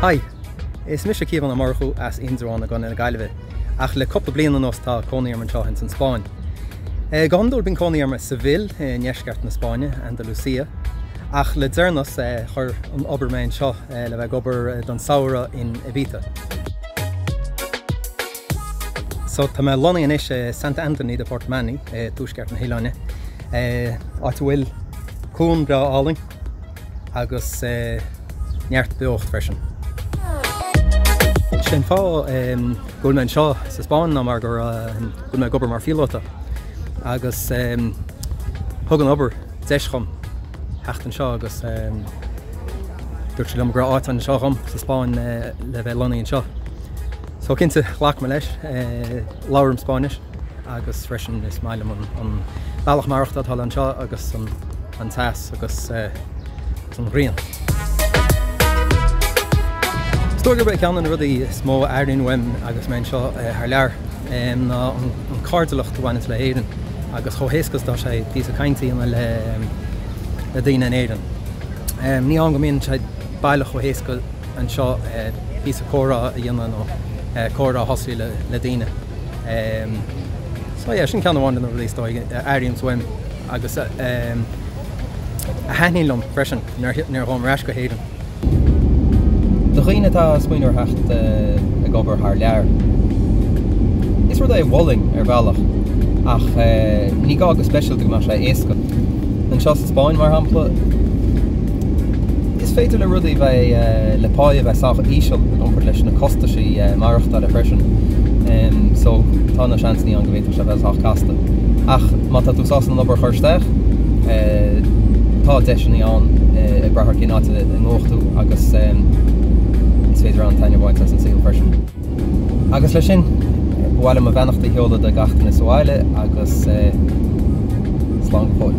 Hi, is mise Caomhán Ó Murchú as Indreabhán i gContae na Gaillimhe, ach le cúpla bliain anuas tá cónaí orm anseo ins an Spáinn. Go hiondúil bíonn cónaí orm i Seville i ndeisceart na Spáinne, Andalucía, ach le deireanas chuir an obair mé anseo le bheith ag obair don samhradh in Ibiza. So tá mé lonnaithe anois i Sant Antoni de Portmany i dtuaisceart na hoileáine, áit a bhfuil cuan breá álainn agus neart beocht freisin. Sin fáth go bhfuil mé anseo sa Spáinn ná mar go bhfuil mé ag obair mar phíolóta agus thug an obair deis dhom theacht anseo agus dúirt siad liom go raibh áit anseo dhom sa Spáinn le bheith lonnaithe anseo. So cinnte, ghlac mé leis. Labhraim Spáinnis agus freisin is maith liom an bealach maireachtáil atá anseo agus an teas agus an ghrian. Is dóigh gurb é ceann de na rudaí is mó a airím uaim agus mé anseo thar lear ná an cairdiúlacht a bhaineanns le hÉirinn agus chomh héasca is atá sé píosa cainte a dhéanamh le daoine in Éirinn. Ní hann go mbíonn sé baileach chomh héasca. anseo píosa comhrá a dhéanamh nó comhrá a thosú le daoine so yeah sin ceann amháin de na rudaí is dóigh a airím uaim agus a thaitníonn liom freisin nuair a ghabhaim ar ais go hÉirinn. Do dhaoine atá ag smaoineamh ar theacht ag obair thar lear, is rud é a mholfainn ar bhealach ach ní gá go speisialta go mbeadh sé éasca. Anseo sa Spáinn, mar shampla, Is féidir le rudaí bheith le páí a bheith sách íseal i gcomparáid leis na costaisí maireachtála freisin so tá na seansannaí ann go bhféadfadh sé bheith sách casta. Ach má tá tú sásta an obair a chur isteach tá deiseannaí ann ag brath ar cén áit a ngabhfaidh tú agus is féidir an-taitneamh a bhaint as an saol freisin. Agus leis sin, ba mhaith liom mo bheannacht a sheoladh do gach duine sa bhaile agus slán go fóill.